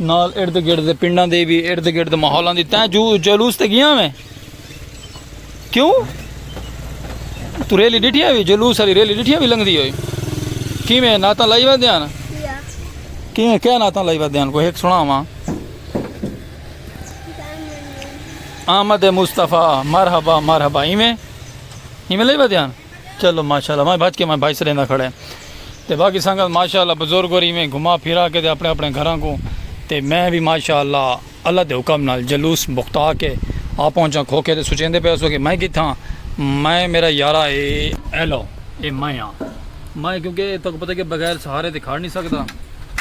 نال ارد گرد دے پنڈاں دے بھی ارد گرد ماحولاں دی تیں جو جلوس تے گیا میں کیوں تو ریلی ڈٹھیاں بھی جلوس والی ریلی ڈٹھیاں بھی لنگ دی ہوئی کی میں ناتاں لائی وا دیاں کی میں کیا ناتاں لائی وا دیاں کوئی ایک سنا ہوا آمد مصطفیٰ مرحبا مرحبا ایویں ایویں لائی وا دیاں چلو ماشاءاللہ ماں بھج کے ماں بھائی سریندا کھڑے تے باقی سنگت ماشاءاللہ بزرگ اور ایویں گھما پھرا کے تے اپنے اپنے گھراں کو تے میں بھی ماشاءاللہ اللہ دے حکم نال جلوس بختا کے آ پہنچا کھوکھے تے سوچیندے پئے سو کہ میں کتھاں میں میرا یارا اے ایلو اے میں ہاں میں کیونکہ تہاکوں پتہ کہ بغیر سہارے تے کھڑ نہیں سکدا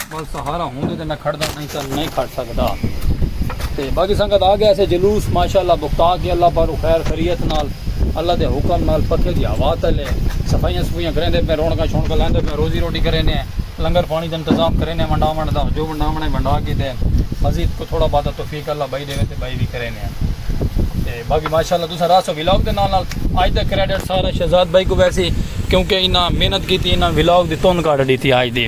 بس سہارا ہوں دے میں کھڑ دا نہیں تھا نہیں کھڑ سکتا تے باقی سنگت آ گیا سے جلوس ماشاءاللہ بکتا کے اللہ پر خیر خریت نال اللہ دے حکم نال پکے دی ہوا تلے صفائیاں صفائیاں کریں دے میں رونکا شونکا لیں دے میں روزی روٹی کریں دے لنگر پانی دے انتظام کریں دے منڈا منڈا جو منڈا منڈا منڈا کی دے مزید کو تھوڑا بات توفیق اللہ بھائی دے تے بھائی بھی کریں دے تے باقی ماشاءاللہ تسا راسو ویلاگ دے نال نال آج دے کریڈٹ سارا شہزاد بھائی کو ویسی کیونکہ انہاں محنت کی تھی انہاں ویلاگ دی تون کارڈ دی تھی آج دے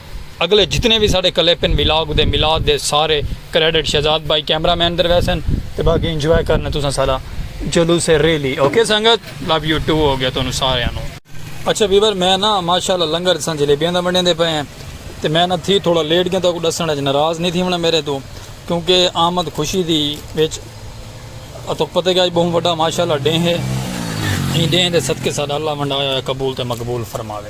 اگلے جتنے وی ساڈے کلپ ہن ولاگ دے میلاد دے سارے کریڈٹ شہزاد بھائی کیمرہ مین دے ویسن تے باقی انجوائے کرنا تساں ساڈا جلوس ریلی اوکے سنگت لو یو ٹو ہو گیا تہانوں ساریاں نوں۔ اچھا ویور میں نا ماشاءاللہ لنگر اساں جلیبیاں دا ونڈیندے پئے ہیں تے میں نا تھی تھوڑا لیٹ گیاں تہاکوں ڈسنڑ اچ ناراض نی تھیونڑاں میرے توں کیونکہ آمد خوشی دی وچ اتھوں پتہ گیا اج بہوں وڈا ماشاءاللہ ڈینہہ ہے ایں ڈینہہ دے صدقے ساڈا اللہ ونڈایا ہویا قبول تے مقبول فرماوے۔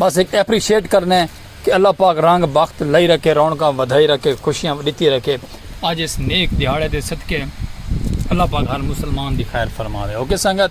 بس ہک ایپریشیٹ کرنے کہ اللہ پاک رنگ بخت لائی رکھے رونقاں ودھائی رکھے خوشیاں ڈتی رکھے اج اس نیک دیہاڑے دے صدقے اللہ پاک ہر مسلمان دی خیر فرماوے اوکے سنگت۔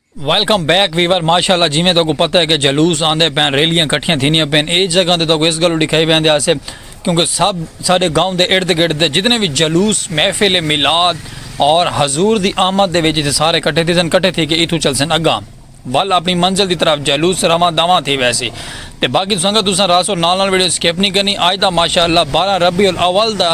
ویلکم بیک ویور ماشاءاللہ جیویں تہاکوں پتہ ہے کہ جلوس آندے پین ریلیاں کٹھیاں تھینیاں پین اے جگہ تے تہاکوں اس گلو ڈکھائی ویندے آسے کیونکہ سب ساڈے گاؤں دے ارد گرد دے جتنے وی جلوس محفل میلاد اور حضور دی آمد دے وچ اتھے سارے کٹھے تھیسن کٹھے تھی کے ایتھوں چلسن اگاں ول اپنی منزل دی طرف جلوس رواں دواں تھی ویسی تے باقی سنگت تساں راسو نال نال ویڈیو سکپ نہیں کرنی آج دا ماشاءاللہ 12 ربیع الاول دا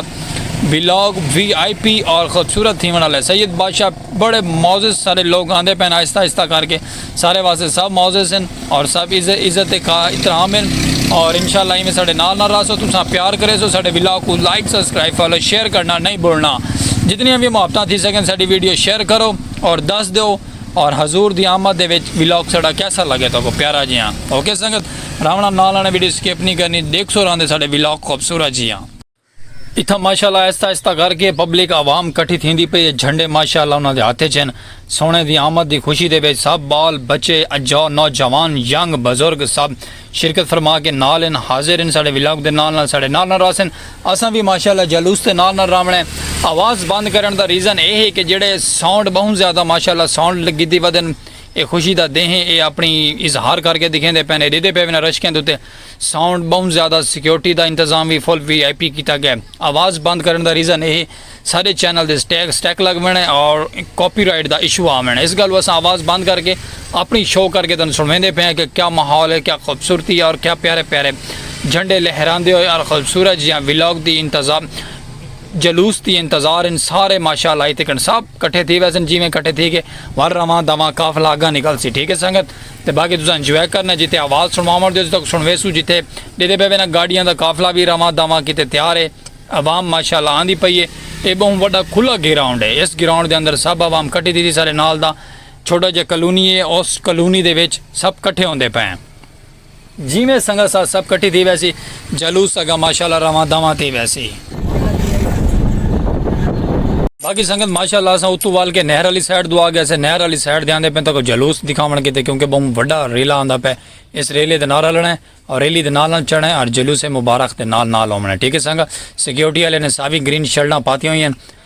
بلاگ وی آئی پی اور خوبصورت تھیون والے سید بادشاہ بڑے معزز سارے لوگ آندے پین آہستہ آہستہ کر کے سارے واسطے سب معزز ہیں اور سب عزت احترام ہیں اور انشاءاللہ ایویں ساڈے نال نال راسو تساں پیار کرے سو ساڈے ولاگ کو لائک سبسکرائب فالو شیئر کرنا نہیں بھولنا جتنی بھی محبتاں تھی سکن ساڈی ویڈیو شیئر کرو اور دس دیو اور حضور دی آمد دے وچ ولاگ ساڈا کیسا لگے تو کو پیارا جیاں اوکے سنگت راونا نال آنے ویڈیو سکپ نہیں کرنی دیکھ سو راندے ساڈے ولاگ خوبصورت جیاں اتھاں ماشاءاللہ آہستہ آہستہ کر کے پبلک عوام کٹھی تھیندی پئی اے جھنڈے ماشاءاللہ انہاں دے ہتھ اچ ہن سوہݨے دی آمد دی خوشی دے وچ سب بال بچے اجا نوجوان ینگ بزرگ سب شرکت فرما کے نال ہن حاضر ہن ساڈے ولاگ دے نال نال ساڈے نال نال رہسن اساں وی ماشاءاللہ جلوس دے نال نال رہونڑ اے آواز بند کرݨ دا ریزن اے ہے کہ جیڑھے ساؤنڈ بہوں زیادہ ماشاءاللہ ساؤنڈ لگیدی ودن اے خوشی دا دیں ہے اے اپنی اظہار کر کے دکھیندے پئن اے ڈیدھے پئے ونہ رشکیں دے اتے ساؤنڈ بہوں زیادہ سکیورٹی دا انتظام وی فل وی آئی پی کیتا گئے آواز بند کرن دا ریزن اے ساڈے چینل دے سٹیگ سٹیک لگ وینے اور کاپی رائٹ دا ایشو آ وینے اس گالو اساں آواز بند کر کے اپنی شو کر کے تن سنویندے پے ہیں کہ کیا ماحول ہے کیا خوبصورتی ہے اور کیا پیارے پیارے جھنڈے لہراندے ہوئے اور خوبصورت جیاں ولاگ دی انتظام جلوس دی انتظار ان سارے ماشاءاللہ ہی تکن سب کٹھے تھی ویسن جیویں کٹھے تھی کے ور رواں دواں کافلا اگاں نکل سی ٹھیک ہے سنگت تے باقی تساں انجوائے کرنا جتھے آواز سنواوݨ دیو تاں سنویسوں جتھے ݙیدے پئے وینا گاڑیاں دا قافلہ وی رواں داواں کیتے تیار اے عوام ماشاءاللہ آندی پئی اے اے ٻہوں وݙا کھلا گراؤنڈ اے اس گراؤنڈ دے اندر سب عوام کٹی تھی دی سارے نال دا چھوٹا جیہا کلونی اے اس کلونی دے وچ سب کٹھے ہوندے پئے ہیں۔ جیویں سنگت ساتھ سب کٹھی تھی ویسی جلوس سگا ماشاءاللہ رواں دواں تھی ویسی۔ باقی سنگت ماشاءاللہ اساں اتو وال کے نہر آلی سائیڈ دو آگئے سے نہر آلی سائیڈ دے آندے پے تاں کو جلوس دکھاون کیتے کیونکہ بہوں وڈا ریلا آندا پے اس ریلے دے نال ہلنڑے اور ریلی دے نال نال چڑھنڑے اور جلوس مبارک دے نال نال ہوونڑے ٹھیک ہے سنگت سیکورٹی آلے نے ساوی گرین شرٹاں پاتیاں ہوئی ہن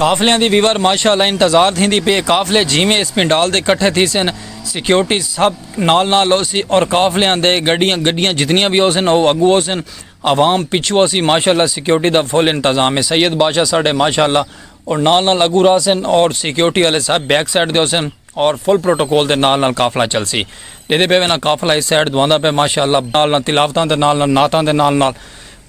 قافلیاں دی ویور ماشاء اللہ انتظار تھیندی پی اے قافلے جیویں اس پنڈال دے کٹھے تھیسن سکیورٹی سب نال نال ہوسی اور قافلیاں دے گڈیاں گڈیاں جتنیاں وی ہوسن او اگو ہوسن عوام پچھو ہوسی ماشاء اللہ سکیورٹی دا فل انتظام اے سید بادشاہ ساڈے ماشاء اللہ او نال نال اگو راہسن اور سکیورٹی والے سب بیک سائیڈ تے ہوسن۔ اور فل پروٹوکول دے نال نال قافلہ چلسی ڈیدے پے وینا قافلہ اس سائیڈ دواندا پے ماشاءاللہ نال نال تلاوتاں دے نال نال نعتاں دے نال نال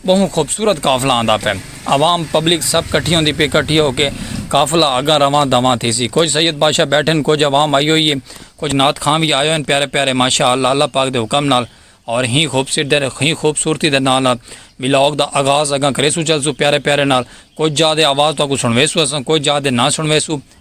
بہوں خوبصورت قافلہ آندا پے عوام پبلک سب کٹھی ہوندی پی کٹھی ہو کے قافلہ اگاں رواں دواں تھیسی کچھ سید بادشاہ بیٹھے ہن کچھ عوام آئی ہوئی ہے کچھ نعت خاں وی آئے ہوئے ہن پیارے پیارے ماشاءاللہ اللہ پاک دے حکم نال اور ہی خوبصورت دے ہی خوبصورتی دے نال نال ولاگ دا آغاز اگاں کریسو چلسو پیارے پیارے نال کچھ جا دے آواز تہاکوں سنویسو اساں کچھ جا دے نہ سنویسو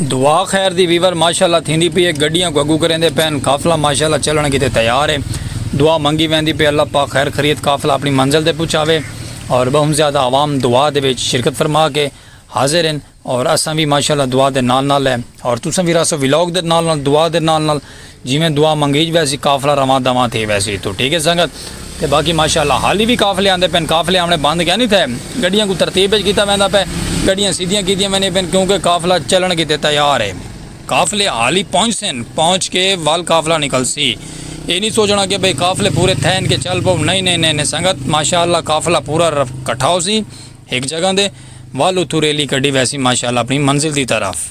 دعا خیر دی ویور ماشاءاللہ تھیندی پی اے گڈیاں کوں اگو کریندے پین قافلہ ماشاءاللہ چلنڑ کیتے تیار اے دعا منگی ویندی پی اللہ پاک خیر خریت قافلہ اپنڑی منزل تے پچھاوے اور بہوں زیادہ عوام دعا دے وچ شرکت فرما کے حاضر ہن اور اساں وی ماشاءاللہ دعا دے نال نال اے اور تساں وی رہسو ولاگ دے نال نال دعا دے نال نال جیویں دعا منگیج ویسی قافلہ رواں دواں تھی ویسی اتھوں ٹھیک ہے سنگت تے باقی ماشاءاللہ حالی وی قافلے آندے پن قافلے آونے بند کیا نہیں تھے گڈیاں کو ترتیب وچ کیتا ویندا پے گڈیاں سیدھیاں کیتیاں ویندیاں پن کیونکہ قافلہ چلن کیتے تیار ہے قافلے حالی پہنچ سن پہنچ کے ول قافلہ نکلسی اے نہیں سوچنا کہ بھئی قافلے پورے تھین کے چل پو نہیں نہیں نہیں سنگت ماشاءاللہ قافلہ پورا کٹھا ہوسی ایک جگہ دے ول اتھوں ریلی کڈی ویسی ماشاءاللہ اپنی منزل دی طرف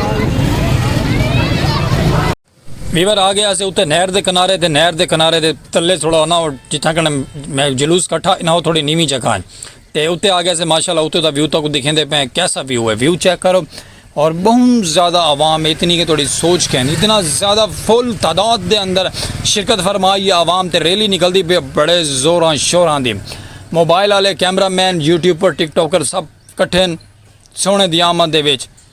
ویور آ گیا سے اتے نہر دے کنارے تے نہر دے کنارے دے تلے تھوڑا ہونا اور جتھاں کنا میں جلوس کٹھا انہاں وہ تھوڑی نیمی جگہ ہیں تے اتے آ گیا سے ماشاءاللہ اتے دا ویو تک دکھیں دے پہ کیسا ویو ہے ویو چیک کرو اور بہت زیادہ عوام اتنی کہ تھوڑی سوچ کہیں اتنا زیادہ فل تعداد دے اندر شرکت فرمائی یا عوام تے ریلی نکل دی پہ بڑے زوراں شوراں دی موبائل والے cameraman YouTuber TikToker سب کٹھے سونے دی آمد دے ویچ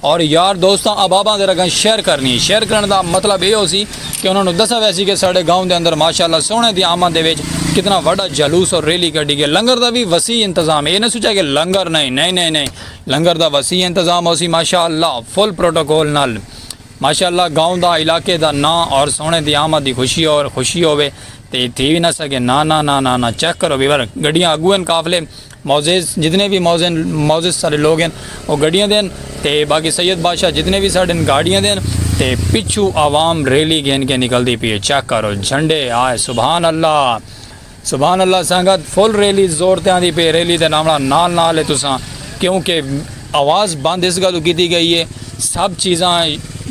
اور یار دوستاں اباباں دے رگاں شیئر کرنی شیئر کرن دا مطلب اے ہو سی کہ انہوں نے دسا ویسی کہ ساڑھے گاؤں دے اندر ماشاءاللہ سونے دی آمد دے ویچ کتنا وڈا جلوس اور ریلی کر دی گئے لنگر دا بھی وسیع انتظام اے نہ سوچا کہ لنگر نہیں نہیں نہیں نہیں لنگر دا وسیع انتظام ہو سی ماشاءاللہ فل پروٹوکول نال ماشاءاللہ گاؤں دا علاقے دا نا اور سونے دی آمد دی خوشی اور خوشی ہوئے تے تھی بھی نہ سکے نا نا نا نا نا چیک کرو بھی بر گڑیاں اگوین کافلے معزز جتنے وی معزز معزز سارے لوگ ہن او گڈیاں دے ہن تے باقی سید بادشاہ جتنے وی ساڈن گاڈیاں دے ہن تے پچھو عوام ریلی گھن کے نکلدی پی اے چیک کرو جھنڈے ہائے سبحان اللہ سبحان اللہ سنگت فل ریلی زور تے آندی پی اے ریلی دے نامڑا نال نال اے تساں کیونکہ اواز بند اس گلو کیتی گئی اے سب چیزاں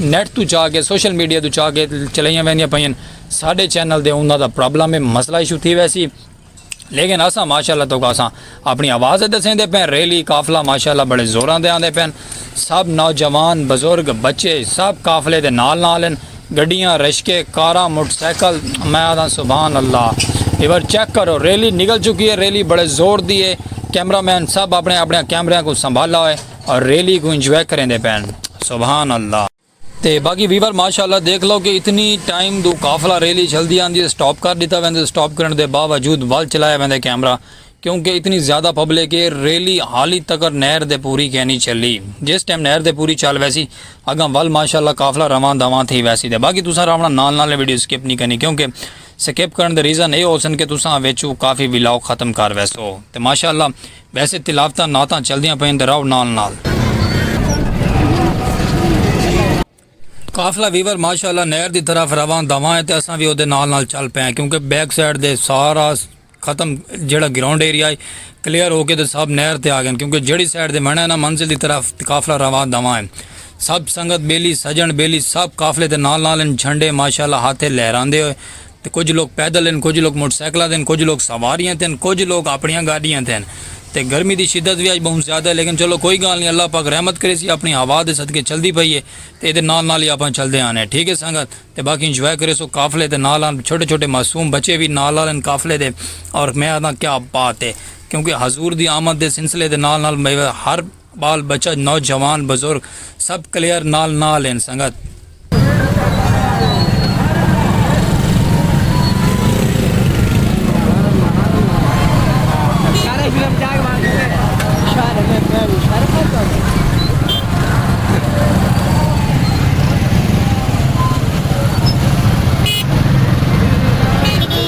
نیٹ تو چا کے سوشل میڈیا تو چا کے چلائیاں ویندیاں پئین ساڈے چینل دے اوندا دا پرابلم اے مسئلہ ایشو تھی ویسی لیکن اساں ماشاءاللہ تو کاساں اپنی آواز دے دسیں دے پین ریلی قافلہ ماشاءاللہ بڑے زوراں دے آندے پین سب نوجوان بزرگ بچے سب قافلے دے نال نال ہیں گڈیاں رشکے کاراں موٹر سائیکل میں آدھاں سبحان اللہ ایور چیک کرو ریلی نکل چکی ہے ریلی بڑے زور دی ہے کیمرہ مین سب اپنے اپنے کیمرے کو سنبھالا ہوئے اور ریلی کو انجوائے کریں دے پین سبحان اللہ تے باقی ویور ماشاءاللہ دیکھ لو کہ اتنی ٹائم دو قافلہ ریلی چلدی آندی تے سٹاپ کر ڈیتا ویندے تے سٹاپ کرن دے باوجود ول چلایا ویندے کیمرہ کیونکہ اتنی زیادہ پبلک اے ریلی حالی تکر نہر دے پوری کینی چلی جس ٹائم نہر دے پوری چل ویسی اگاں ول ماشاءاللہ قافلہ رواں دواں تھی ویسی تے باقی تساں راونا نال نال ویڈیو سکپ نی کرنی کیونکہ سکپ کرن دے ریزن اے ہوسن کہ تساں وچوں کافی ولاگ ختم کر ویسو تے ماشاءاللہ ویسے تلاوتاں نعتاں چلدیاں پئین تے راؤ نال نال۔ قافلہ ویور ماشاء اللہ نہر دی طرف رواں دواں ہے تے اساں وی اودے نال نال چل پئے آں کیونکہ بیک سائیڈ دے سارا ختم جیڑھا گراؤنڈ ایریا ہے کلیئر ہو کے تے سب نہر تے آ گئن کیونکہ جیڑھی سائیڈ دے منہ ہے نا منزل دی طرف قافلہ رواں دواں ہے سب سنگت بیلی سجن بیلی سب قافلے دے نال نال ہن جھنڈے ماشاء اللہ ہاتھے لہراندے ہوئے تے کجھ لوک پیدل ہن، کجھ لوک موٹر سائیکلاں تے ہن، کجھ لوک سواریاں تے ہن، کجھ لوک آپنڑیاں گاڈیاں تے ہن تے گرمی دی شدت وی اج بہوں زیادہ ہے لیکن چلو کوئی گالھ نی اللہ پاک رحمت کریسی آپنڑی ہوا دے صدقے چلدی پئی ہے تے ایدے نال نال ہی آپاں چلدے آ رہے ٹھیک ہے سنگت تے باقی انجوائے کریسو قافلے دے نال نال چھوٹے چھوٹے معصوم بچے وی نال نال ہن قافلے دے اور میں آکھداں کیا بات ہے کیونکہ حضور دی آمد دے سلسلے دے نال نال ہر بال بچہ نوجوان بزرگ سب کلیئر نال نال ہن سنگت۔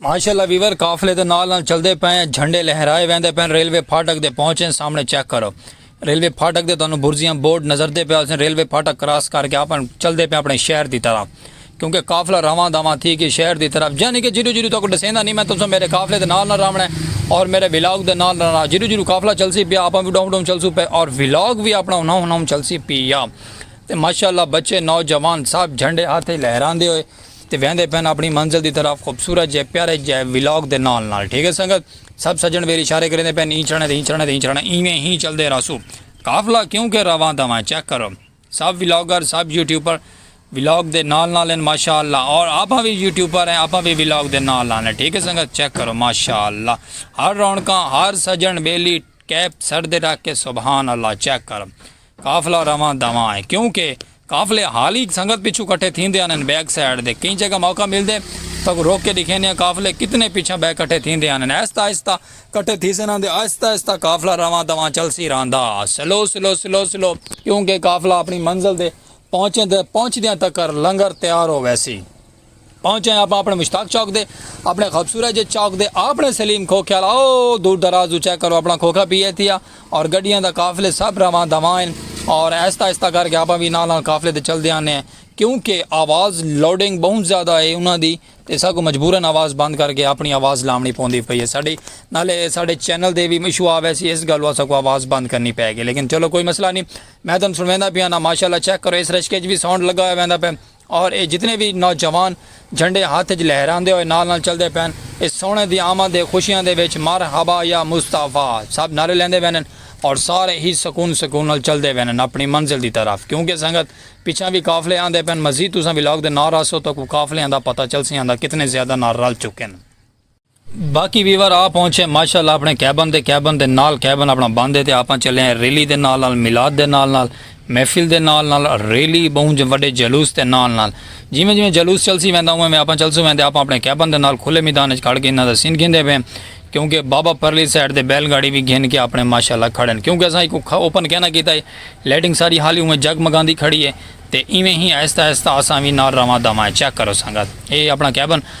ماشاءاللہ ویور قافلے دے نال نال چلدے پئے ہیں جھنڈے لہرائے ویندے پئے ہیں ریلوے پھاٹک دے پہنچے سامنے چیک کرو ریلوے پھاٹک دے تانوں برزیاں بورڈ نظر دے پئے ہوسن ریلوے پھاٹک کراس کر کے اپن چلدے پئے اپنے شہر دی طرح کیونکہ قافلہ رواں دواں تھی کہ شہر دی طرف یعنی کہ جیرو جیرو تو کو ڈسیندا نہیں میں تسوں میرے قافلے دے نال نہ راونا ہے اور میرے ولاگ دے نال نہ جیرو جیرو قافلہ چلسی پیا اپن بھی ڈوم ڈوم چلسو پے اور ولاگ بھی اپنا انہاں انہاں چلسی پیا تے ماشاءاللہ بچے نوجوان سب جھنڈے ہاتھ لہراندے ہوئے تے ویندے پن اپنی منزل دی طرف خوبصورت جئے پیارے جئے ولاگ دے نال نال ٹھیک ہے سنگت سب سجن ویر اشارے کریندے پن ایں چھڑنے تے ایں چھڑنے تے ایں چھڑنے ایویں ہی چلدے رہسو قافلہ کیوں کہ رواں دواں چیک کرو سب ولاگر سب یوٹیوبر ولاگ دے نال نال ہیں ماشاءاللہ اور آپاں وی یوٹیوبر ہیں آپاں وی ولاگ دے نال نال ہیں ٹھیک ہے سنگت چیک کرو ماشاءاللہ ہر رونکاں ہر سجن بیلی کیپ سر دے رکھ کے سبحان اللہ چیک کرو قافلہ رواں دواں ہے کیوں کہ قافلے حال ای سنگت پچھوں کٹھے تھیندے آنن بیک سائیڈ دے کئی جگہ موقع ملدے تاکوں روک کے ڈکھینے آں قافلے کتنے پچھاں بے کٹھے تھیندے آنن آہستہ آہستہ کٹھے تھیسن آندے آہستہ آہستہ قافلہ رواں دواں چلسی رہندا سلو سلو سلو سلو کیوں کہ قافلہ اپنی منزل دے پہنچیں تے پہنچدیاں تکر لنگر تیار ہو ویسی۔ پہنچے ہیں آپاں اپنے مشتاق چوک دے اپنے خوبصورت جے چوک دے آپنے سلیم کھوکھے والا او دور دراز دو چیک کرو اپنا کھوکھا پی اے تھی آ اور گڈیاں دا قافلے سب رواں دواں ہیں اور ایستا ایستا کر کے آپاں بھی نال نال قافلے دے چل دے آنے ہیں کیونکہ آواز لوڈنگ بہت زیادہ ہے انہاں دی تے ساکو مجبورن آواز بند کر کے اپنی آواز لامنی پوندی پئی ہے ساڈی نالے ساڈے چینل دے بھی مشو آوے سی اس گلو ساکو آواز بند کرنی پے گی لیکن چلو کوئی مسئلہ نہیں میں تن سنویندا پیا نا ماشاءاللہ چیک کرو اس رشکے چ بھی ساؤنڈ لگا ہویا ویندا پے اور اے جتنے وی نوجوان جھنڈے ہتھ اچ لہراندے ہوئے نال نال چلدے پئن اے سوہݨے دی آمد اے خوشیاں دے وچ مرحبا یا مصطفی سب نعرے لیندے ویندن اور سارے ہی سکون سکون نال چلدے ویندن اپݨی منزل دی طرف کیونکہ سنگت پچھاں وی قافلے آندے پئن مزید تساں ولاگ دے نال رہسو تاکوں قافلیاں دا پتہ چلسی آندا کتنے زیادہ نال رل چکن۔ باقی ویور آ پہنچے ماشاءاللہ اپنے کیبن دے کیبن دے نال کیبن اپنا بند ہے تے آپاں چلے ہیں ریلی دے نال نال میلاد دے نال نال محفل دے نال نال ریلی بہوں جے وڈے جلوس دے نال نال جیویں جیویں جلوس چلسی ویندا اونویں اونویں آپاں چلسوں ویندے آپاں اپنے کیبن دے نال کھلے میدان اچ کھڑ کے انہاں دا سین گھندے پئے کیونکہ بابا پرلی سائیڈ تے بیل گاڑی وی گھن کے اپنے ماشاءاللہ کھڑن کیونکہ اساں ایکوں کھا اوپن کہنا کیتا ہے لائٹنگ ساری حالی اونویں جگ مگاندی کھڑی ہے تے ایویں ہی آہستہ آہستہ اساں وی نال رواں داواں چیک کرو سنگت اے اپنا کیبن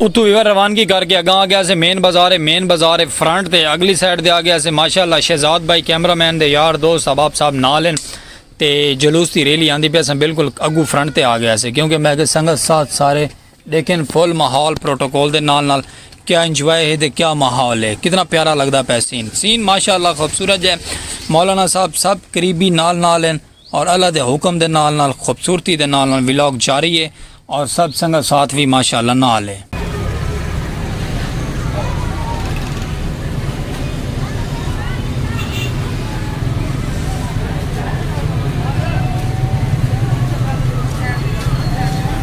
اتھوں ایویں روانگی کر کے اگاں آگے اسے مین بازار ہے مین بازار ہے فرنٹ تے اگلی سائیڈ تے آگے اسے ماشاء اللہ شہزاد بھائی کیمرہ مین دے یار دوست احباب صاحب نال ہیں تے جلوس دی ریلی آندی پہ اساں بالکل اگو فرنٹ تے آگے اسے کیونکہ میں کہ سنگت ساتھ سارے دیکھیں فل ماحول پروٹوکول دے نال نال کیا انجوائے ہے دے کیا ماحول ہے کتنا پیارا لگدا پہ سین سین ماشاءاللہ خوبصورت جائے مولانا صاحب سب قریبی نال نال ہیں اور اللہ دے حکم دے نال نال خوبصورتی دے نال نال ولاگ جاری ہے اور سب سنگت ساتھ وی ماشاءاللہ نال ہے۔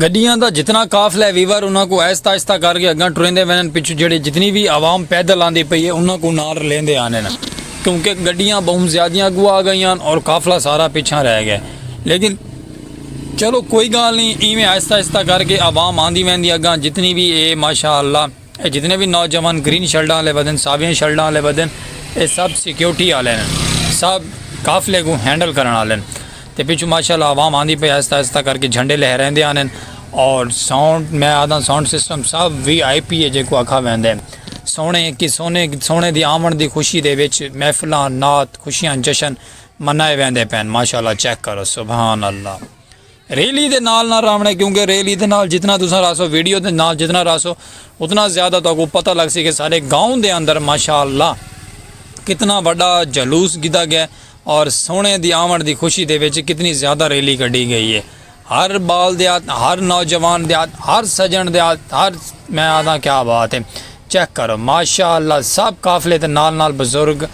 گڈیاں دا جتنا قافلہ ہے ویور انہاں کو آہستہ آہستہ کر کے اگاں ٹریندے وینن پچھو جڑے جتنی بھی عوام پیدل آندی پئی ہے انہاں کو نال لیندے آنے نا کیونکہ گڈیاں بہت زیادیاں کو آ گئیاں اور قافلہ سارا پیچھا رہ گئے لیکن چلو کوئی گال نہیں ایویں آہستہ آہستہ کر کے عوام آندی ویندی اگاں جتنی بھی اے ماشاءاللہ اے جتنے وی نوجوان گرین شرٹاں آلے ودن، ساویاں شرٹاں آلے ودن اے سب سیکیورٹی آلے ہن۔ سب قافلے کوں ہینڈل کرݨ آلے ہن۔ تے پچھوں ماشاءاللہ عوام آندی پئی آہستہ آہستہ کر کے جھنڈے لہریندے آندے ہن اور ساؤنڈ میں آہداں ساؤنڈ سسٹم سب وی آئی پی ہے جیکوں آکھا ویندے۔ سوہݨے اکی سوہݨے سوہݨے دی آوݨ دی خوشی دے وچ محفلاں نعت خوشیاں جشن منائے ویندے پئن ماشاءاللہ چیک کرو سبحان اللہ۔ ریلی دے نال نہ راونے کیونکہ ریلی دے نال جتنا تساں راسو ویڈیو دے نال جتنا راسو اتنا زیادہ تو کو پتہ لگ سی کہ سارے گاؤں دے اندر ماشاءاللہ کتنا بڑا جلوس گدا گیا اور سونے دی آمن دی خوشی دے وچ کتنی زیادہ ریلی کڈی گئی ہے ہر بال دے ہاتھ ہر نوجوان دے ہاتھ ہر سجن دے ہاتھ ہر میں آدھا کیا بات ہے چیک کرو ماشاءاللہ سب قافلے تے نال نال بزرگ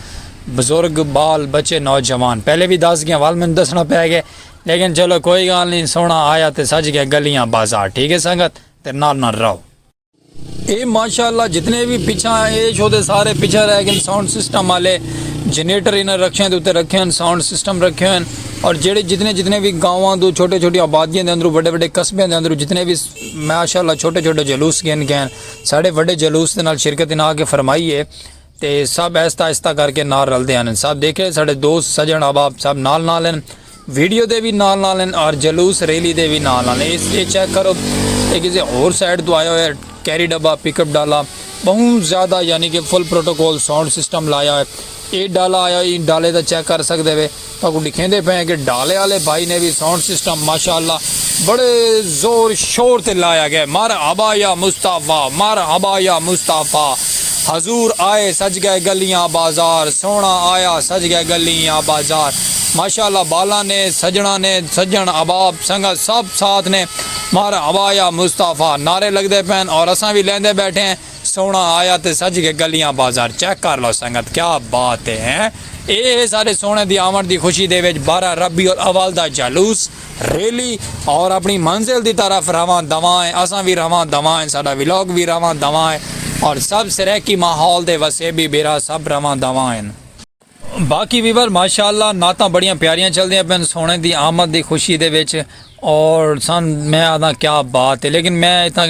بزرگ بال بچے نوجوان پہلے بھی دس گیا وال میں دسنا پہ گئے لیکن چلو کوئی گال نی سونا آیا تے سج گیا گلیاں بازار ٹھیک ہے سنگت تے نال نال رہو۔ اے ماشاءاللہ جتنے وی پچھا اے شو دے سارے پچھا رہ گن ساؤنڈ سسٹم آلے جنریٹر انہاں رکھیاں دے اتے رکھے ہن ساؤنڈ سسٹم رکھے ہن اور جیڑے جتنے جتنے وی گاواں دو چھوٹے چھوٹے آبادیاں دے اندرو وڈے وڈے قصبے دے اندرو جتنے وی ماشاءاللہ چھوٹے چھوٹے جلوس گن گئے ہن ساڈے وڈے جلوس دے نال شرکت انہاں آ کے فرمائی اے۔ تے سب آہستہ آہستہ کر کے نال رلدے ہن سب دیکھے ساڈے دوست سجن احباب سب نال نال ہن ویڈیو دے وی نال نال ہن اور جلوس ریلی دے وی نال نال ہن اے چیک کرو اے کسے ہور سائیڈ تو آیا ہویا کیری ڈبہ پک اپ ڈالا بہت زیادہ یعنی کہ فل پروٹوکول ساؤنڈ سسٹم لایا ہویا اے ڈالا آیا ہوئی ڈالے دا چیک کر سکدے وے تہاکوں ڈکھیندے پئے ہیں کہ ڈھالے آلے بھائی نے وی ساؤنڈ سسٹم ماشاءاللہ بڑے زور شور تے لایا گئے مرحبا یا مصطفی مرحبا یا مصطفی حضور آئے سج گئے گلیاں بازار سوہنڑا آیا سج گئے گلیاں بازار ماشاءاللہ بالاں نے سجنڑاں نے سجنڑ احباب سنگت سب ساتھ نے مرحبا یا مصطفی نعرے لگدے پئے ہن اور اساں وی لیندے بیٹھے ہیں۔ سوہنڑا آیا تے سج کے گلیاں بازار چیک کر لو سنگت کیا بات اے ہیں اے ہے ساڈے سوہنڑے دی آونڑ دی خوشی دے وچ بارہ ربیع الاول دا جلوس، ریلی، اور اپنڑی منزل دی طرف رواں دواں ہیں اساں وی رواں دواں ہیں ساڈا ولاگ وی رواں دواں ہیں اور سب سرائیکی ماحول دے وسیبی بھرا سب رواں دواں ہیں۔ باقی ویور ماشاء اللہ نعتاں بڑیاں پیاریاں چلدیاں پن سونے دی آمد دی خوشی دے وچ اور سن میں آدھا کیا بات ہے لیکن میں اتنا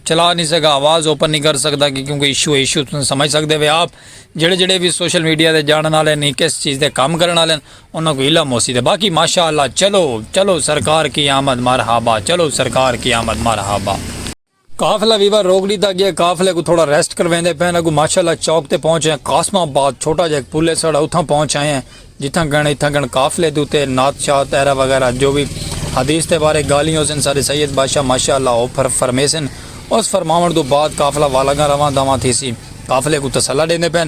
چلا نہیں سکا آواز اوپن نہیں کر سکتا کہ کیونکہ ایشو ایشو تم سمجھ سکتے ہوئے آپ جڑے جڑے بھی سوشل میڈیا دے جانن والے نہیں کس چیز دے کام کرن والے انہوں کو علم ہو سی دے باقی ماشاءاللہ چلو چلو سرکار کی آمد مرحبا چلو سرکار کی آمد مرحبا قافلہ ویوا روک ڈیتا گیا قافلے کوں تھوڑا ریسٹ کرویندے پئن اگوں ماشاءاللہ چوک تے پہنچ ہیں قاسم آباد چھوٹا جا ہک پل ہے ساڑا اتھاں پہنچ آئے ہیں جتھاں گن اتھاں گن قافلے دے اتے نعت شات ایرا وغیرہ جو وی حدیث دے بارے گالھیں ہوسن ساڈے سید بادشاہ ماشاءاللہ او فرمیسن اس فرماون توں بعد قافلہ والاگاں رواں دواں تھیسی قافلے کوں تسلی ڈیندے پئن۔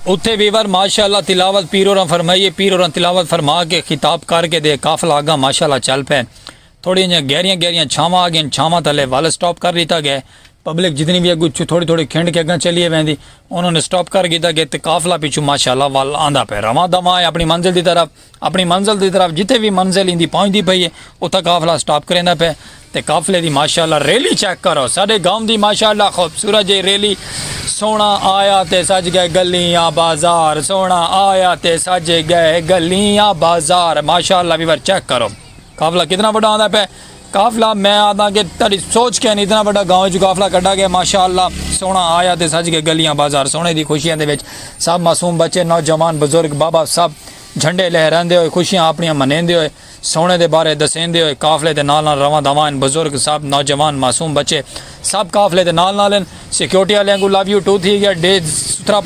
اتھے ویور ماشاء اللہ تلاوت پیر ہوراں فرمائی ہے پیر ہوراں تلاوت فرما کے خطاب کر کے دے قافلہ اگاں ماشاء اللہ چل پے تھوڑی جیاں گہریاں گہریاں چھاواں آ گئین چھاواں تلے ول سٹاپ کر دیتا گئے پبلک جتنی بھی اگو تھوڑی تھوڑی کھنڈ کے اگاں چلیے ویندی انہوں نے سٹاپ کر گیتا گئے تے قافلہ پیچھو ماشاء اللہ ول آندا پے رواں دواں ہے اپنی منزل دی طرف اپݨی منزل دی طرف جتھے وی منزل ایندی پہنچدی پئی اے اتھاں قافلہ سٹاپ کریندا پئے تے قافلے دی ماشاءاللہ ریلی چیک کرو ساݙے گاؤں دی ماشاءاللہ خوبصورت جئی ریلی سوہݨا آیا تے سج ڳئے ڳلیاں بازار سوہݨا آیا تے سج ڳئے ڳلیاں بازار ماشاءاللہ ویور چیک کرو۔ قافلہ کتنا بڑا آندا پہ قافلہ میں آدھا کہ تاری سوچ کے نہیں اتنا بڑا گاؤں جو قافلہ کڈا گیا ماشاءاللہ سونا آیا تے سج کے گلیاں بازار سونے دی خوشیاں دے وچ سب معصوم بچے نوجوان بزرگ بابا سب جھنڈے لہراندے ہوئے خوشیاں اپنیاں منیندے ہوئے سونے دے بارے دسیندے ہوئے قافلے دے نال نال رواں دواں بزرگ سب نوجوان معصوم بچے سب قافلے دے نال نال ہن سیکورٹی والے کو لو یو ٹو تھی گیا ڈے سترا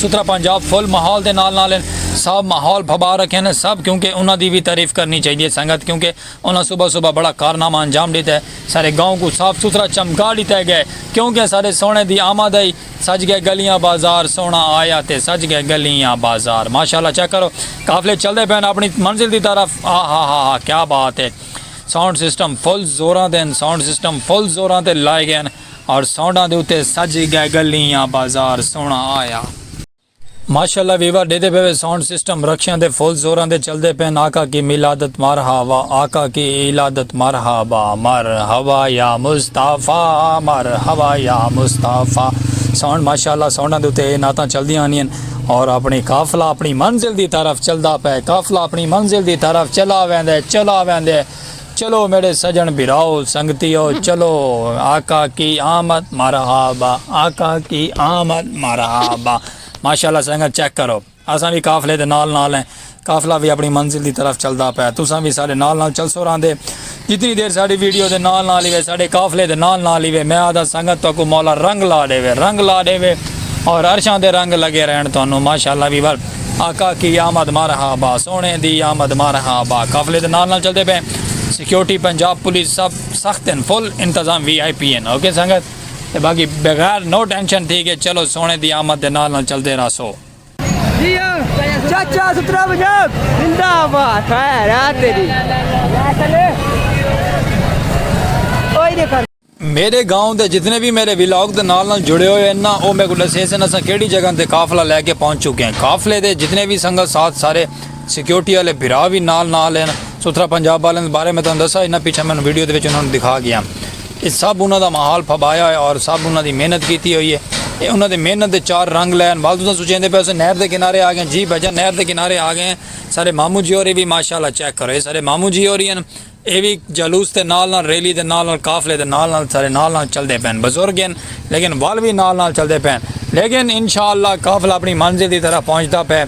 سترا پنجاب فل ماحول دے نال نال ہن سب ماحول بھبا رکھے نے سب کیونکہ انہاں دی بھی تعریف کرنی چاہیے ہے سنگت کیونکہ انہاں صبح صبح بڑا کارنامہ انجام دیتا ہے سارے گاؤں کو صاف ستھرا چمکا دیتا ہے گئے کیونکہ سارے سونے دی آمد ہے سج گئے گلیاں بازار سونا آیا تے سج گئے گلیاں بازار ماشاءاللہ چیک کرو قافلے چلدے پین اپنی منزل دی طرف آہا ہا ہا کیا بات ہے ساؤنڈ سسٹم فل زوراں تے ہن ساؤنڈ سسٹم فل زوراں تے لائے گئے ہن اور ساؤنڈاں دے اتے سج گئے گلیاں بازار سوہنا آیا۔ ماشاءاللہ ویوا ڈیدے پے وے ساؤنڈ سسٹم رکشیاں دے فل زوراں دے چلدے پے ہن آقا کی میلادت مرحبا آقا کی ایلادت مرحبا مرحبا یا مصطفی مرحبا یا مصطفی ساؤنڈ ماشاءاللہ ساؤنڈاں دے اتے اے نعتاں چلدیاں ہنی ہن۔ اور اپنی قافلہ اپنی منزل دی طرف چلدا پے قافلہ اپنی منزل دی طرف چلا ویندے چلا ویندے چلو میرے سجن بھراؤ سنگتیو چلو آقا کی آمد مرحبا آقا کی آمد مرحبا ماشاءاللہ سنگت چیک کرو اساں بھی قافلے دے نال نال ہیں قافلہ وی اپݨی منزل دی طرف چلدا پئے تساں وی ساݙے نال نال چلسو راہندے جتنی دیر ساݙی ویڈیو دے نال نال ہیوے ساݙے قافلے دے نال نال ہیوے میں آہدا سنگت تہاکوں مولا رنگ لا ݙیوے رنگ لا ݙیوے اور عرشاں دے رنگ لڳے رہݨ تہانوں ماشاءاللہ ویور آقا کی آمد مرحبا سوہݨے دی آمد مرحبا قافلے دے نال نال چلدے پئے سیکیورٹی پنجاب پولیس سب سخت ہن فل انتظام وی آئی پی ہن اوکے سنگت تے باقی بغیر نو ٹینشن ٹھیک ہے چلو سوہݨے دی آمد دے نال نال چلدے راہسو۔ چاچا سترا پنجاب زندہ آباد خیر آ تیری کوئی نہیں کر میرے گاؤں دے جتنے بھی میرے ولاگ دے نال نال جڑے ہوئے ہیں نا او میرے کو دسے سن اساں کیڑی جگہ تے قافلہ لے کے پہنچ چکے ہیں قافلے دے جتنے بھی سنگت ساتھ سارے سیکیورٹی والے بھرا بھی نال نال ہیں سترا پنجاب والے بارے میں تانوں دسا انہاں پیچھے میں ویڈیو دے وچ انہاں نوں دکھا گیا اے سب انہاں دا محال پھبایا ہویا اور سب انہاں دی محنت کیتی ہوئی ہے۔ اے انہاں دے محنت دے چار رنگ لئے ہن۔ ول تساں سوچیندے پئے ہوسو نہر دے کنارے آ گئے ہیں۔ جی بھائی جان نہر دے کنارے آ گئے ہیں۔ ساڈے ماموں جی ہوری وی ماشاءاللہ چیک کرو اے ساڈے ماموں جی ہوری ہن۔ اے وی جلوس دے نال نال ریلی دے نال نال قافلے دے نال نال ساڈے نال نال چلدے پئے ہن۔ بزرگ ہن لیکن ول وی نال نال چلدے پئے ہن۔ لیکن انشاءاللہ قافلہ اپنی منزل دی طرف پہنچدا پئے۔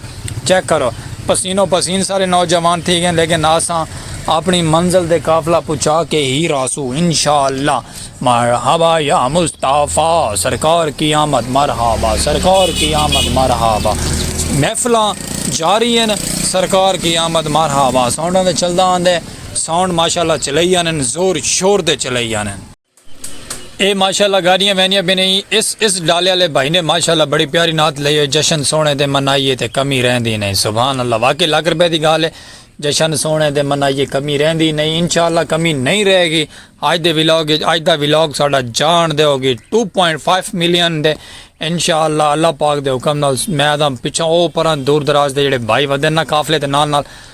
چیک کرو پسین و پسین سارے نوجوان تھی گئے لیکن آساں اپنی منزل دے قافلہ پچا کے ہی راسو انشاءاللہ مرحبا یا مصطفی سرکار کی آمد مرحبا سرکار کی آمد مرحبا محفلاں جاری ہیں سرکار کی آمد مرحبا ساؤنڈاں دے چلدا آندے ساؤنڈ ماشاءاللہ چلئی آنن زور شور دے چلئی آنن اے ماشاءاللہ گاڈیاں ویندیاں پین ہیں اس اس ڈالے آلے بھائی نے ماشاءاللہ بڑی پیاری نعت لئی ہوئی جشن سوہنے دے منائیے تے کمی رہندی نہیں سبحان اللہ واقعی لکھ روپے دی گال ہے جشن سوہنے دے منائیے کمی رہندی نہیں انشاءاللہ کمی نہیں رہے گی اج دے ولاگ اج دا ولاگ ساڈا جان دے ہوگی 2.5 ملین دے انشاءاللہ اللہ پاک دے حکم نال میں دا پچھا او پران دور دراز دے جڑے بھائی ودن نہ قافلے تے نال نال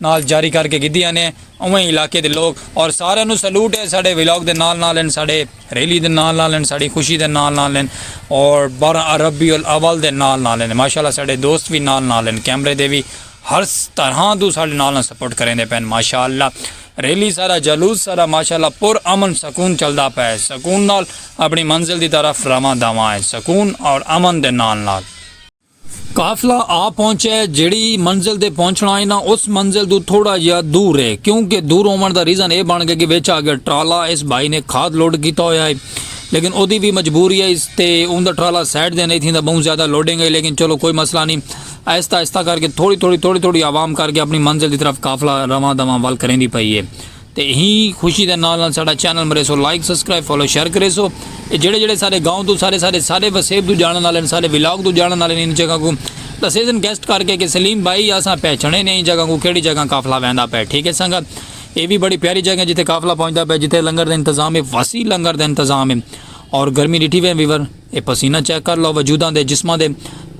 نال جاری کر کے گھدی آنے اویں علاقے دے لوک اور سارے نو سلوٹ ہے ساڈے ولاگ دے نال نال ہن ساڈے ریلی دے نال نال ہن ساڈی خوشی دے نال نال ہن اور بارہ ربیع الاول دے نال نال ہن ماشاءاللہ ساڈے دوست وی نال نال ہن کیمرے دے وی ہر طرحاں توں ساڈے نال نال سپورٹ کریندے پئے ہن ماشاءاللہ ریلی سارا جلوس سارا ماشاءاللہ پر امن سکون چلدا پئے سکون نال اپنی منزل دی طرف رواں دواں ہے سکون اور امن دے نال نال۔ قافلہ آ پہنچے جیڑھی منزل تے پہنچنا ہئی نا اس منزل توں تھوڑا جیا دور ہے کیوں کہ دور ہوون دا ریزن اے بن گئے کہ وچ آ گیا ٹرالا اس بھائی نے کھاد لوڈ کیتا ہویا ہئی لیکن اودی وی مجبوری ہئی تے اوندا ٹرالا سائیڈ دے نہیں تھیندا بہوں زیادہ لوڈنگ ہئی لیکن چلو کوئی مسئلہ نہیں آہستہ آہستہ کر کے تھوڑی تھوڑی تھوڑی تھوڑی عوام کر کے اپنی منزل دی طرف قافلہ رواں دواں ول کریندی پئی ہے تے ہی خوشی دے نال نال ساڈا چینل مریسو لائک سبسکرائب فالو شیئر کریسو اے جڑے جڑے سارے گاؤں تو سارے سارے سارے وسیب تو جانن والے نے سارے ولاگ تو جانن والے نے ان جگہ کو دسیزن گیسٹ کر کے کہ سلیم بھائی اساں پہچنے نے ان جگہ کو کیڑی جگہ قافلہ ویندا پے ٹھیک ہے سنگت اے بھی بڑی پیاری جگہ جتھے قافلہ پہنچدا پے جتھے لنگر دے انتظام ہے وسیع لنگر دے انتظام ہے اور گرمی ڈٹھی وے ویور اے پسینہ چیک کر لو وجوداں دے جسماں دے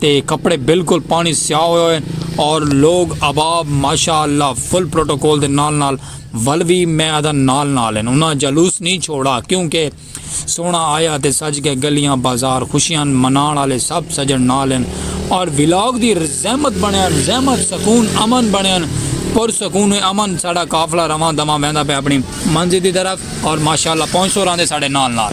تے کپڑے بالکل پانی سیاہ ہوئے ہوئے اور لوگ اباب ماشاء اللہ فل پروٹوکول دے نال نال ول وی میں آدھا نال نال ہن انہاں جلوس نی چھوڑا کیوں کہ سوہنا آیا تے سج گئے گلیاں بازار خوشیاں مناؤن آلے سب سجن نال ہن اور ولاگ دی رزحمت بنیا رزحمت سکون امن بنیا پر سکون امن ساڈا قافلہ رواں دواں ویندا پیا اپنی منزل دی طرف۔ اور ماشاءاللہ پہنچ سو راندے ساڑے نال نال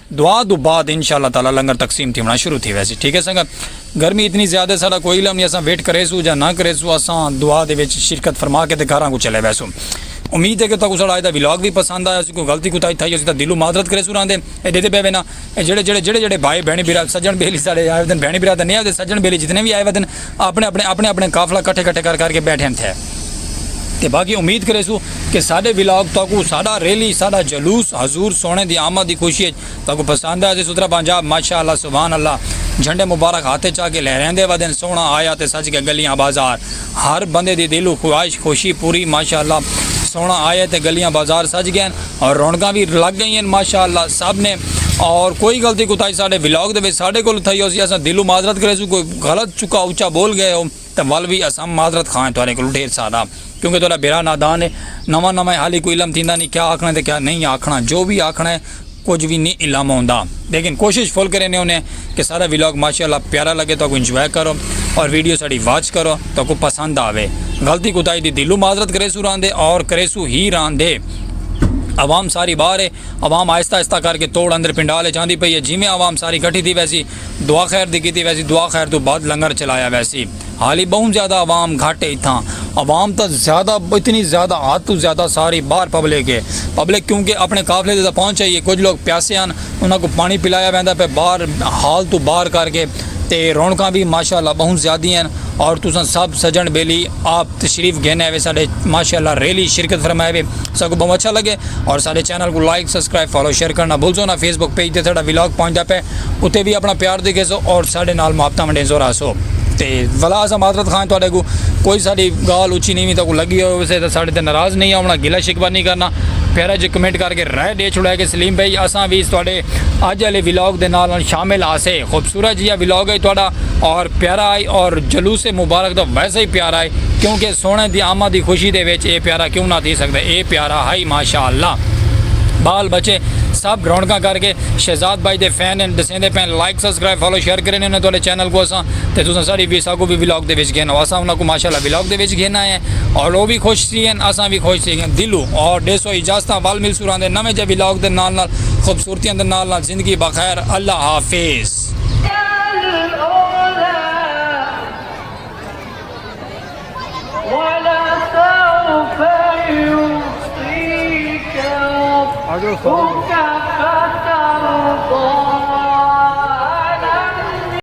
دعا توں بعد انشاء اللہ تعالی لنگر تقسیم تھیونڑاں شروع تھی ویسی ٹھیک ہے سنگت گرمی اتنی زیادہ ساڈا کوئی علم نہیں اساں ویٹ کریسوں جا نہ کریسوں اساں دعا دے وچ شرکت فرما کے تے گھراں کوں چلے ویسوں امید ہے کہ تکوں ساڈا اج دا ولاگ وی پسند آیا سی کوئی غلطی کوتاہی تھائی ہوسی تاں دلوں معذرت کریسوں راندے اے ڈیدے پے وینا اے جڑے جڑے جڑے جڑے بھائی بہن بھرا سجن بیلی ساڈے آئے ودن بہن بھرا تے نیا دے سجن بیلی جتنے وی آئے ودن اپنے اپنے اپنے اپنے قافلہ کٹھے کٹھے کر کر کے بیٹھن تھے تے باقی امید کرے سو کہ ساڈے ولاگ تاکو ساڈا ریلی ساڈا جلوس حضور سونے دی آمد دی خوشی ہے تاکو پسند ہے سترا پنجاب ماشاءاللہ سبحان اللہ جھنڈے مبارک ہاتھے چا کے لہریندے ودن سونا آیا تے سج کے گلیاں بازار ہر بندے دی دلو خواہش خوشی پوری ماشاءاللہ سونا آیا تے گلیاں بازار سج گئے اور رونگاں بھی لگ گئی ہیں ماشاءاللہ سب نے اور کوئی غلطی کوتاہی ساڈے ولاگ دے ساڈے کول تھئی ہو سی اسا دلو معذرت کرے سو کوئی غلط چکا اچا بول گئے ہو تے ول وی اساں معذرت خواہ ہیں تہاڈے کولوں ڈھیر سارا کیونکہ تہاڈا بھیرا نادان ہے نواں نواں ہے حالی کوئی علم تھیندا نہیں کیا آکھنا تے کیا نہیں آکھنا جو وی آکھنا ہے کجھ وی نہیں علم ہوندا لیکن کوشش فل کرینے ہونے کہ سارا ولاگ ماشاءاللہ پیارا لگے تو کو انجوائے کرو اور ویڈیو ساڈی واچ کرو تو کو پسند آوے غلطی کوتاہی دی دلو معذرت کرے سو راندے اور کرے سو ہی راندے عوام ساری باہر ہے عوام آہستہ آہستہ کر کے توڑ اندر پنڈال چاندی پئی ہے جویں عوام ساری کٹھی تھی ویسی دعا خیر دی کیتی ویسی دعا خیر توں بعد لنگر چلایا ویسی حالی بہوں زیادہ عوام گھٹ ہے اتھاں عوام تا زیادہ اتنی زیادہ حد توں زیادہ ساری باہر پبلک ہے پبلک کیونکہ اپنے قافلے دے تاں پہنچ آئی ہے کجھ لوگ پیاسے ہن انہاں کوں پانی پلایا ویندا پئے باہر ہال توں باہر کر کے تے رونقاں وی ماشاءاللہ بہوں زیادی ہن اور تساں سب سجن بیلی آپ تشریف گھن آئے وے ساڈے ماشاءاللہ ریلی شرکت فرمائے وے ساکو بہوں اچھا لگے اور ساڈے چینل کو لائک سبسکرائب فالو شیئر کرنا بھلزو نا فیس بک پیج تے ساڈا ولاگ پہنچدا پے اتے وی اپنا پیار دکھیسو اور ساڈے نال محبتہ ونڈیسو رہسو تے ولا اسا معذرت خواہ تواڈے کو کوئی ساڈی گال اچھی نیوی تاکو لگی ہوئے ویسے تے ساڈے تے ناراض نہیں ہونا گلہ شکوہ نہیں کرنا پیارا جے کمنٹ کر کے رائے دے چھوڑا کہ سلیم بھائی اسا وی تواڈے اج آلے ولاگ دے نال نال شامل آسے۔ خوبصورت جیہا ولاگ ہئی تہاڈا اور پیارا ہئی اور جلوس مبارک تاں ویسے ہی پیارا ہئی کیونکہ سوہݨے دی آمد دی خوشی دے وچ اے پیارا کیوں نہ تھی سڳدے اے پیارا ہئی ماشاءاللہ ٻال ٻچے سب رونقاں کر ڳئے شہزاد بھائی دے فین ہن ݙسیندے پئن لائک سبسکرائب فالو شیئر کریندے ہوندن تہاڈے چینل کوں اساں تے تساں ساݙی وی ساکوں وی ولاگ دے وچ گھنو اساں انہاں کوں ماشاءاللہ ولاگ دے وچ گھن آئے ہیں اور او وی خوش تھی ڳئن اساں وی خوش تھی ڳئے دلوں اور ݙیسو اجازتاں ول ملسوں راہندے نویں جیہے ولاگ دے نال نال خوبصورتیاں دے نال نال زندگی بخیر اللہ حافظ۔